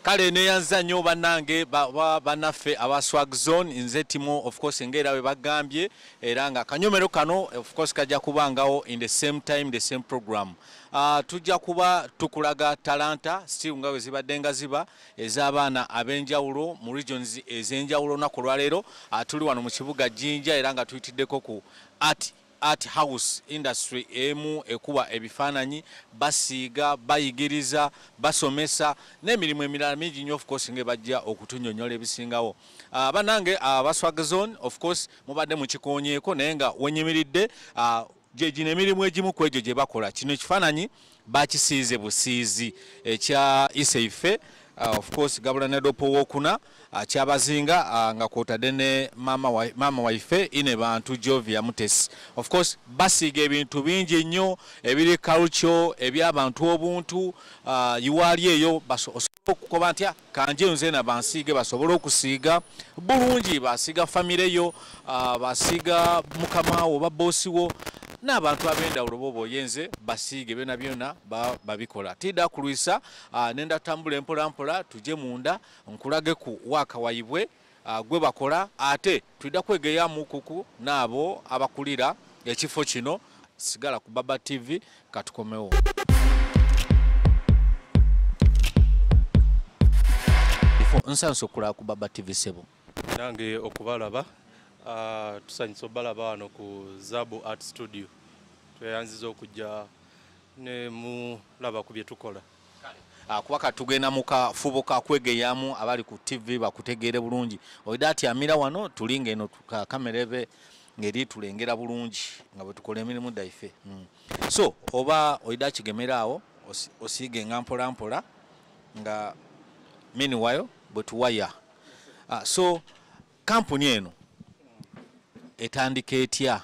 kale neyanziza nnyo banange banaffe aba swag zone nze timu ofcourse ngaera we bagambye era nga akanyomero kano ofcourse kajja kubangawo in the same time the same program ah, tujja kuba tukulaga talanta still nga we zibadde nga ziba ez'abaana ab'enjawulo mu regions ez'enjawulo naku olwaleero ah, tuli wano mu kibuga jinja era nga tuyitiddeko ku art Art House industry emu ekuba ebifaananyi, basiiga, bayigiriza, basomesa n'emirimu emirala mingi nnyo of course nga bajja okutunyonyola ebisingawo. Uh, banange uh, baswag zone of course mubadde mukikoonyeeko naye nga wenyimiridde uh, gyegino emirimu egimu ku egyo gye bakola kino ekifaananyi bakisiize busiizi ekya iseife uh, of course gabula ne dopo wokuna uh, kyabazinga uh, nga kwotadde ne maama wa, maama waife ine bantu jovia mutesi of course basiiga ebintu bingi nnyo ebiri culture ebyabantu obuntu uh, iwaali eyo osobola okukoba nti ah, kanjeyo nzena bansiige basobole okusiiga bulungi basiiga famire yo ah, basiiga mukama wo babosi wo n'abantu ab'endawulo boba oyenze basiige byona byona babikola tida kulwisa ah, nenda tambula empolampola tuje munda nkulage ku waakawayibwe ah, gwe bakola ate tulida kwegeya mukuku naabo abakulira ekifo kino sigala ku baba tv katukomewo nsanso okulaba ku baba tv sebo nange okubalaba ah, tusanyusa obalaba wano ku zabu art studio tweyanziza okujja nemulaba ku byetukola Ah, kuba kati tugenda mu kafubo ka kwegeyaamu abali ku ttivi bakutegeere bulungi oida ati amira wano tuli ng'eno kamera ebe ng'eri tulengera bulungi nga bwe tukola emirimu daife hmm. so oba oida kigemera awo osiige nga mpola mpola nga miniwayo bwe tuwaya ah, so kampuni eno etandika etya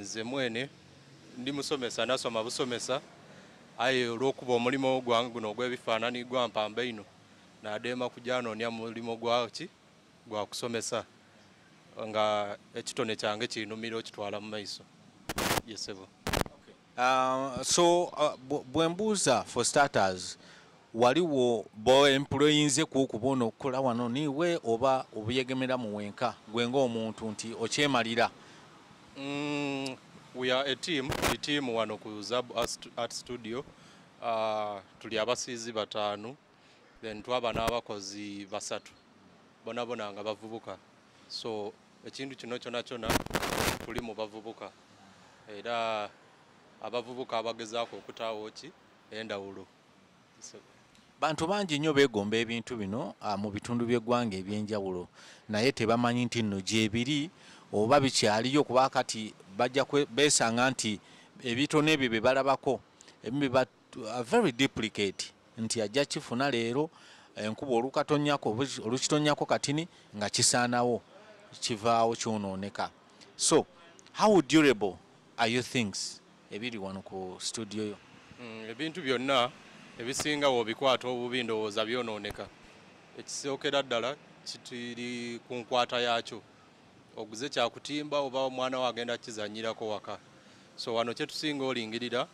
Nze mwene ndi musomesa nasoma busomesa aye olwokuba omulimo gwange guno ogwebifaanani gwampamba eino nadeema kujanoonia mulimo gwaki gwakusomesa nga ekitone kyange kinumira okitwala mumaiso ye sebo. Uh, so uh, bwembuuza for starters waliwo boemployinze kuokuba ono okukola wano niwe oba obuyegemera mu wenka gwe ngaomuntu nti okyemalira mm, we are a team the team wano ku zab art studio uh, tuli abasiizi bataanu then twaba n'abakozi basatu bonabona nga bavubuka so ekintu kino kyona kyona kuli mu bavubuka era abavubuka abagezaako okutaawo ki endawulo bantu bangi nnyo beegomba ebintu bino ah, mu bitundu by'eggwanga eby'enjawulo naye tebamanyi nti nno gyebiri oba bikyaliyo kuba kati bajja beesanga nti ebitono ebyo bye balabako ebimu very duplicate nti ajja kifuna leero enkuba olukatonyako olukitonyako katini nga kisaanawo kivaawo kyonooneka so how durable are you things ebiri wano ku studio yo mm, ebintu byonna ebisinga wobikwata obubi ndowooza byonooneka ekisookera ddala kitiri ku nkwata yaakyo oguze kyakutimba oba omwana wo agenda kizanyirako waka so wano kyetusinga olingirira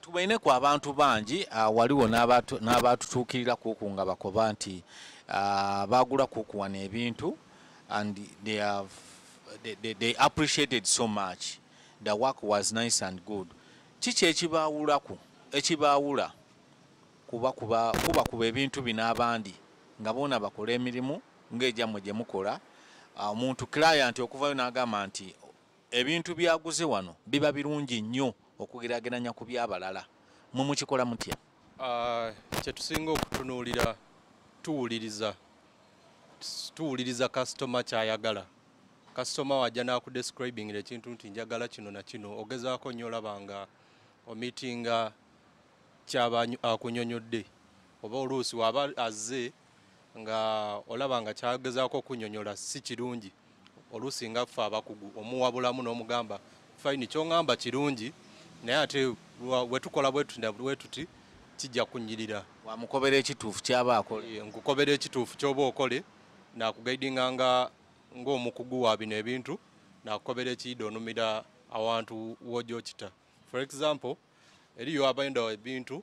Tubaine ku abantu bangi ah, waliwo n'abaatutuukirira kuku nga bakoba nti ah, baagula kuku wano ebintu and they, have, they, they, they appreciated so much the work was nice and good kiki ekibaawulaku ekibaawula kuba kuba kuba kuba ebintu bino abandi nga boona bakola emirimu ng'egyammwe gye mukola ah, omuntu client okuvayo n'agamba nti Ebintu by'aguze wano biba birungi nnyo okugeraageranya ku by'abalala. Mmwe mukikola mutya? Kye tusinga okutunuulira tuwuliriza tuwuliriza kasitoma ky'ayagala. Kasitoma wajja n'akudescribingira ekintu nti njagala kino na kino, ogezaako nnyo olaba nga omitinga ky'aba akunyonyodde oba oluusi waba azze nga olaba nga kyagezaako okunyonyola si kirungi oluusi nga ffe abakugu omuwabulamu n'omugamba fayini kyongamba kirungi naye ate wetukola bwetuti kijja kunyirira wamukobera ekituufu kyaba akole eh, nkukobera ekituufu kyoba okole nakugaidinga nga ngaomukugu wa bino ebintu nakukobera ekiyida onumira awantu wojokita for example eriyo abaenda ebintu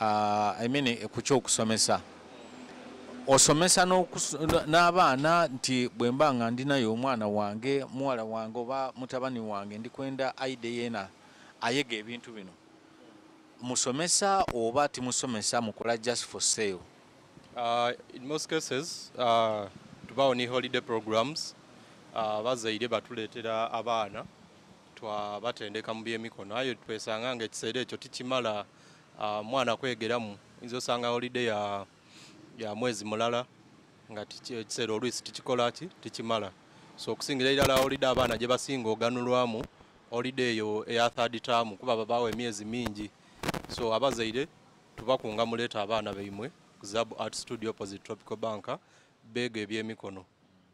I mean eh, ku kyokusomesa osomesa n'abaana nti bwe mba nga ndinayo omwana wange muwala wange oba mutabani wange ndi kwenda aide yena ayega ebintu bino musomesa oba timusomesa mukola just for sale uh, in most cases uh, tubawo ni holiday programs uh, bazaire batuleetera abaana twa batendeka mu byemikono aye twesanga nga ekiseera ekyo tikimala uh, mwana kwegeramu inza osanga holiday ya, ya mwezi mulala nga ekiseera oluisi tikikola ki tikimala so okusingira irala holiday abaana gye basinga oganulwamu holiday eyo eya third term kuba babawo emyezi mingi so abazaire tubakunga muleeta abaana baimwe ku zab art studio opposite tropical banka beega ebyemikono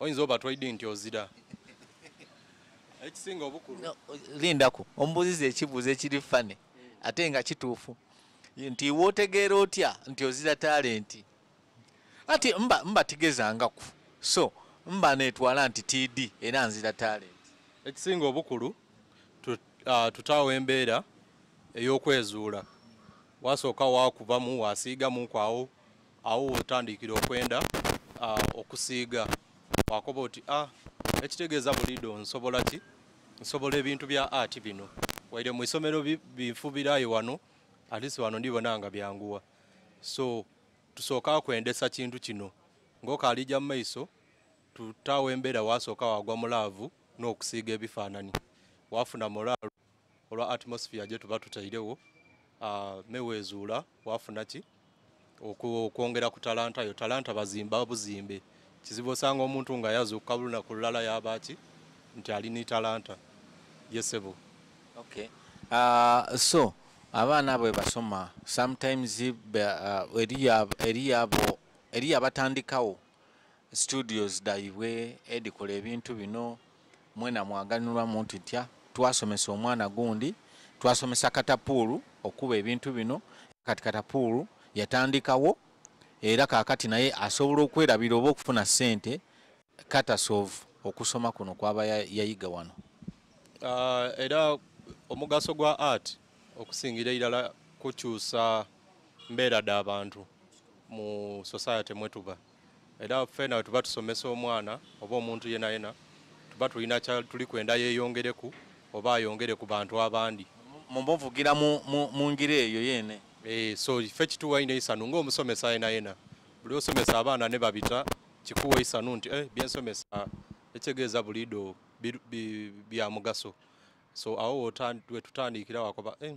oyinza oba twaidi nti ozira ekisinga obukulu no, lindako omubuziza ekibuuzo ekiri fane ate nga kituufu nti wotegeera otya nti ozira talenti ati mba mba tigezangaku so mba netwala nti td era nzira talenti ekisinga obukulu tutaawo uh, embeera ey'okwezuula wasooka wakubamu wasiigamu kwawo awo wotandikira okwenda uh, okusiiga wakoba oti a ah, ekitegeeza bulido nsobola ki nsobola ebintu bya ati bino waire mu isomero binfubirayo wano alisi wano ndibona nga byanguwa so tusooka kwendesa kintu kino ngaokalija mu maiso tutawo embeera wasooka wagwa mu laavu n'okusiiga ebifaananyi wafuna mulaalo olwa atmosphere gye tuba tutairewo ah, meweezuula wafuna ki okwongera ku talanta yo talanta bazimba buzimbe kizibu osanga omuntu nga yazuukuka lunaku lulala yabaaki nti ali ni talanta yesebo okay. uh, so abaana bwe basoma sometimes uh, eriyo abatandikawo studios daibwe edikola ebintu bino mwena mwaganulwa muntu ntya twasomesa omwana gundi twasomesa katapuulu okuba ebintu bino kati katapuulu yatandikawo era kakati naye asobola okwerabira oba okufuna sente katasov okusoma kuno kwaba yayiga wano uh, era omugaso gwa art okusingira irala kukyusa mbeera da bantu mu society mwetuba era fena wetuba tusomesa omwana oba omuntu yena yena tuba tulina tuli kwenda yeyongereku oba ayongere ku bantu abandi mumbuvugira mungira eyo yene eh, so fe kituwa ina isanu nga omusomesa yena yena buli osomesa abaana ne babita kikuwa isanu nti eh, byensomesa ekitegeeza bulido bya mugaso so awo wetutandikira wakoba eh,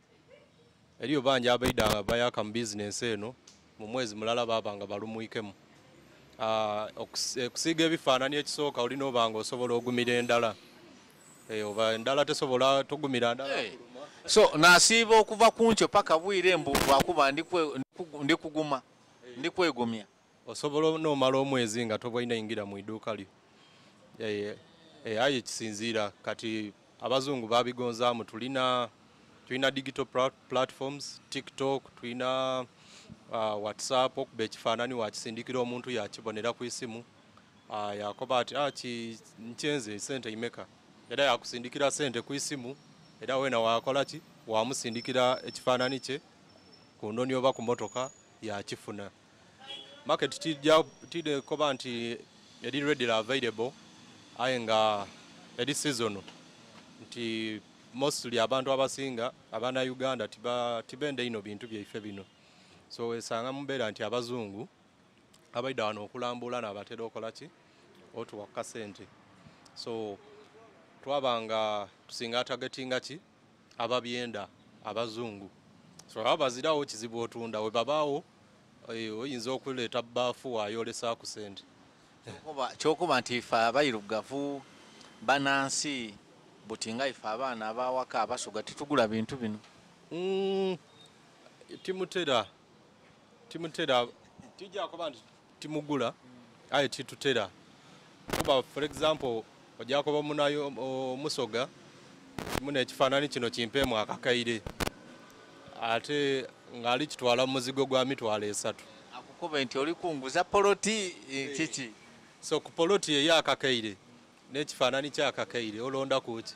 Eriyo bangi abaidanga bayaka mu bizinensi eno mu mwezi mulala baaba nga balumwikemu. Ah, okusiiga eh, ebifaanani ekisooka olina oba nga osobola ogumira endala eh, oba endala tesobola togumira ndala eh, so nasiiba okuva kunkyo paka bwire mbu lwakuba ndikuguma ndikwegumya osobola nomala omwezi nga tobwaina ingira mu iduuka lyo eh, eh, aye kisinziira kati abazungu babigonzaamu tulina tulina digital platforms tiktok tulina uh, whatsapp okuba ekifaanani wakisindikira omuntu yakibonera ku isimu uh, yakoba ati ah, nkyenze sente imeka era yakusindikira sente ku isimu era wena wakola ki wamusindikira ekifaanani kye ku ndoni oba ku motoka yakifuna market tidde koba nti eri readily available aye nga eri season nti mostly abantu abasinga abana uganda tibende ino bintu byaife bino so wesanga mubeera nti abazungu abaida wano okulambula nabatera okolaki otuwa kasente so twabanga tusinga atagetinga ki ababyenda abazungu so aba bazirawo kizibu otunda we babaawo eh, oyinza okuleeta baafu wayolesa ku sente kyokuba nti ife abairugavu banansi buti nga ife abaana abawaka abasuga tetugula bintu bino mm, timutera timutera tijakuba nti timugula aye titutera kuba for example ojakuba munayo omusoga muna ekifaanani kino kimpeemu akakaire ate ngaali kitwala muzigo gwa mitwalo esatu akukube nti oli kunguza poloti eh, kiki so ku poloti eyo akakaire n'ekifaanani kyakakaire olonda kuki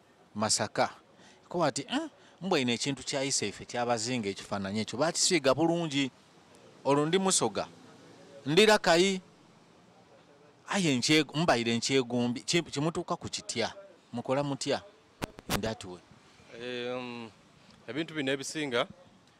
Masaka kuba ati eh, mbwa ino ekintu kyayisa ife kyabazinga ekifaananyi ekyo bakisiiga bulungi olwo ndi musoga ndira kayi aye mbaire nkyegombi kimutuuka ku kitya mukola mutya indatiwe ebintu bino ebisinga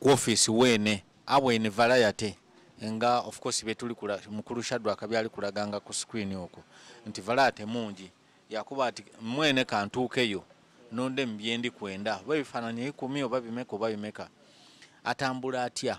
ku office wene abwene valayate nga of course betuli kula mukulu shadwa akabyali kulaganga ku screen oko nti valayate mungi yakuba ati mwene kantuukeyo nonde mubyendi kwenda oba ebifaananyi ikumi oba bimeka oba bimeka atambula atya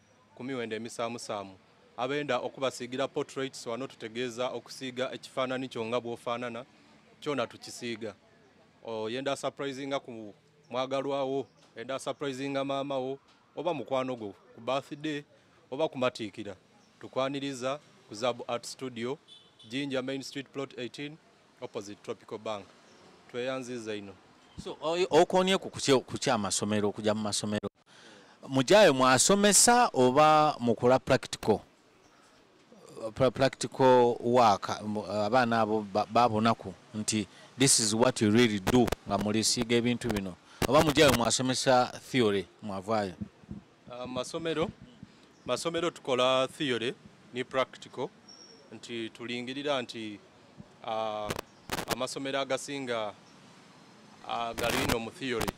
ku miwendo emisaamusaamu. Abenda okubasiigira portraits wano tutegeeza okusiiga ekifaanani kyo nga bw'ofaanana kyona tukisiiga. Oyenda asurprisinga ku mwagalwa wo, oyenda asurprisinga maama wo oba mukwano gwo ku birthday oba kumatiikira, tukwaniriza ku Zaabu Art Studio, Jinja Main Street Plot 18 opposite Tropical Bank. Tweyanziza ino. So, okoonye ku kukya amasomero, okugya mu masomero? mujayo mwasomesa oba mukula practical practical work abaana abo babonaku nti this is what you really do nga mulisiiga ebintu bino oba mujayo mwasomesa theory mwavaayo uh, masomero masomero tukola theory ne practical nti tulingirira nti uh, amasomero agasinga uh, galino mu theory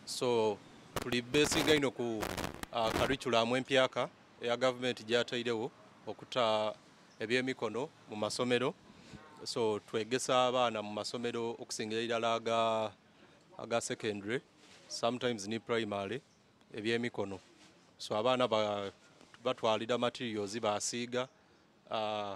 so tuli besinga ino ku uh, kariculamu empyaka eya gavumenti gyatairewo okuta ebyemikono mu masomero so twegesa abaana mu masomero okusingira irala aga, aga secondary sometimes ni primary ebyemikono so abaana batwalira materials basiiga uh,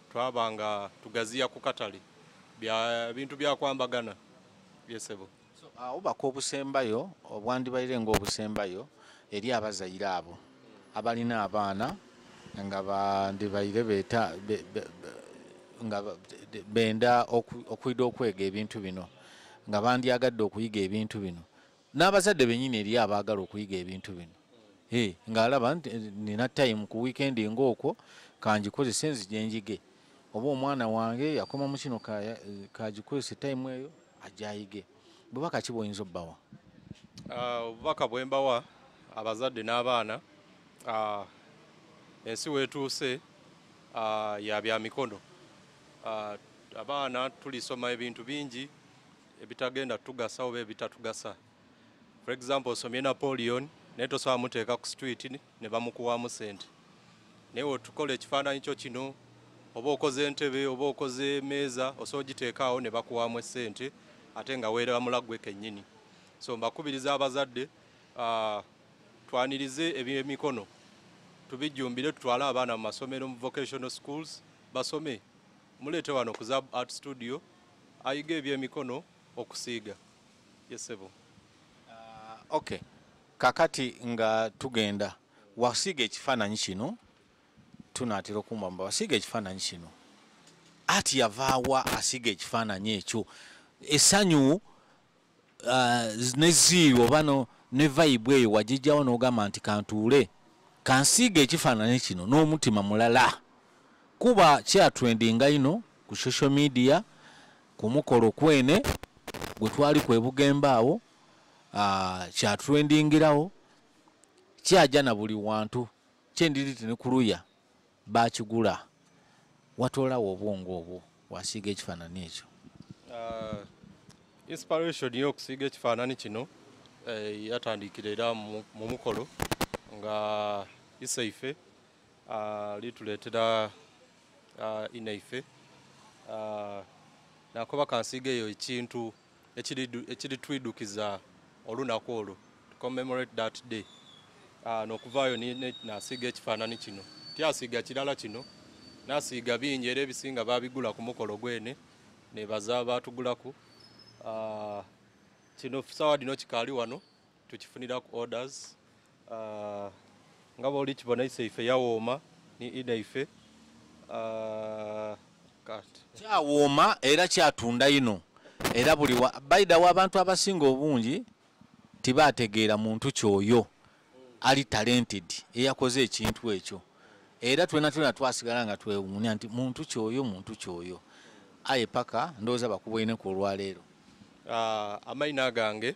Twaba nga tugaziya ku katale bya bintu bya kwambagana. Yes, sebo. So, uh, obubaka obusembayo obwandibaire nga obusembayo eri abazaire abo abalina abaana nga bandibaire beta be, be, be, nga benda okwida okwega ebintu bino nga bandyagadde okuyiga ebintu bino n'abazadde bennyini eriyo abaagala okuyiga ebintu bino eh, ng'alaba nti eh, nina tayimu ku wiikendi ng'okwo kangikozese nzija enjige oba omwana wange yakoma mu kino kagikozese tayimu eyo ajayige bubaka ki bwoyinza obbawa ah, obubaka bwe mbawa abazadde n'abaana ah, ensi weetuuse ah, ya bya mikono abaana tulisoma ebintu bingi ebitagenda tugasa oba ebitatugasa for example osomye Napoleon naye tosobola muteeka ku street ne bamukuwaamu sente naye otukola ekifaananyi kyo kino oba okoze entebe oba okoze emeeza osobola ogiteekaawo ne bakuwaamu essente ate nga weeramula gwe kennyini so mbakubiriza abazadde uh, twanirize ebyemikono tubijjumbire tutwale abaana mu masomero mu vocational schools basome muleete wano ku zab art studio Ayiga ebyemikono okusiiga ye sebo. Uh, ok kakati nga tugenda wasiiga ekifaananyi kino tunaatera okumwamba wasiiga ekifaananyi kino ati yavaawa asiiga ekifaananyi ekyo esanyu ah, ne ziiri oba ne vayibu eyo wagijjawo n'ogamba nti kantuule kansiiga ekifaananyi kino n'omutima mulala kuba kyatrendinga ino ku social media ku mukolo kwene gwe twali kwebugemba awo ah, kyatrendingirawo kyaja na buli wantu kyendiriti ne kuluya Baakigula. Watwala wa obwongo obwo wasiiga ekifaanani ekyo? Uh, inspiration y'okusiiga ekifaanani kino eh, yatandikira era mu mukolo nga isaife uh, lituleetera uh, inaife uh, nakuba kansiiga eyo ekintu ekirituidukiza olunaku olwo to commemorate that day ah, nokuvaayo nasiiga ekifaanani kino tyasiiga kirala kino nasiiga bingi era ebisinga babigula ku mukolo gwene nebaza batugulaku ah, kino sawa dino kikaali wano tukifuniraku orders Ah, nga bwoli kibona ise ife yawooma ni ida ife ah, kati kyawooma era kyatunda ino era buli wa baidawo abantu abasinga obungi tibategeera muntu kyoyo ali talented eyakoze ekintu ekyo era twena twena twasigala nga twewuunya nti muntu kyoyo muntu kyoyo aye paka ndowooza bakuboineku olwaleero ah, amaina gange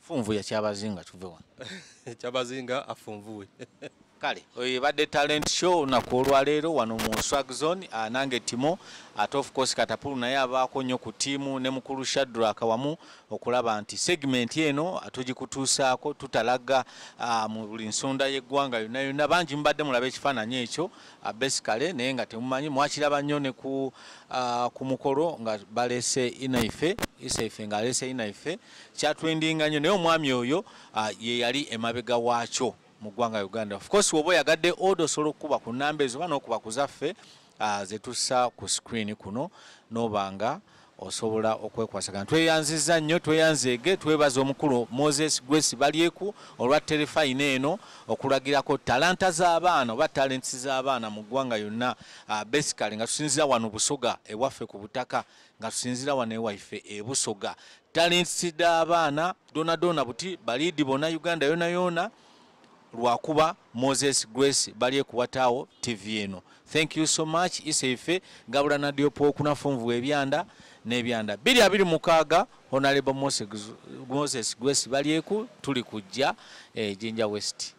funvuya kyabazinga tuve wano kyabazinga afunvuwe kale oyo ebadde talent show olunaku olwaleero wano mu swag zone ah, nange timo ate of course katapulu naye abaako nnyo ku tiimu ne mukulu shadrak wamu okulaba nti segment eno tugikutuusaako tutalaga ah, mu buli nsonda y'eggwanga yonna yonna bangi mubadde mulaba ekifaananyi ekyo Abesi kale naye nga temumanyi mwakiraba nnyo ne ku uh, ku mukolo nga balese inaife isaife nga alese inaife kyatwendinga nnyo naye omwami oyo uh, ye yali emabega waakyo mu ggwanga uganda of course woba oyagadde oda osobola okukuba ku namba ezo oba n'okuba ku zaffe uh, zetussa ku screen kuno noba nga osobola okwekwasagana tweyanziza nnyo tweyanzeege twebaza omukulu moses grace balyeku olwa terefayina eno okulagirako talanta z'abaana oba talents z'abaana mu ggwanga yonna ah, basically nga tusinzira wano busoga ewaffe ku butaka nga tusinzira wano ewaife ebusoga talents z'abaana donadoona buti baliidi bona uganda yona yona lwakuba moses grace bali ekuwataawo tv eno thank you so much isa ife gabula nadiopa okunafunvu ebyanda nebyanda biri abiri mukaaga honalebo moses grace balyeku tuli kujja ejinja eh, west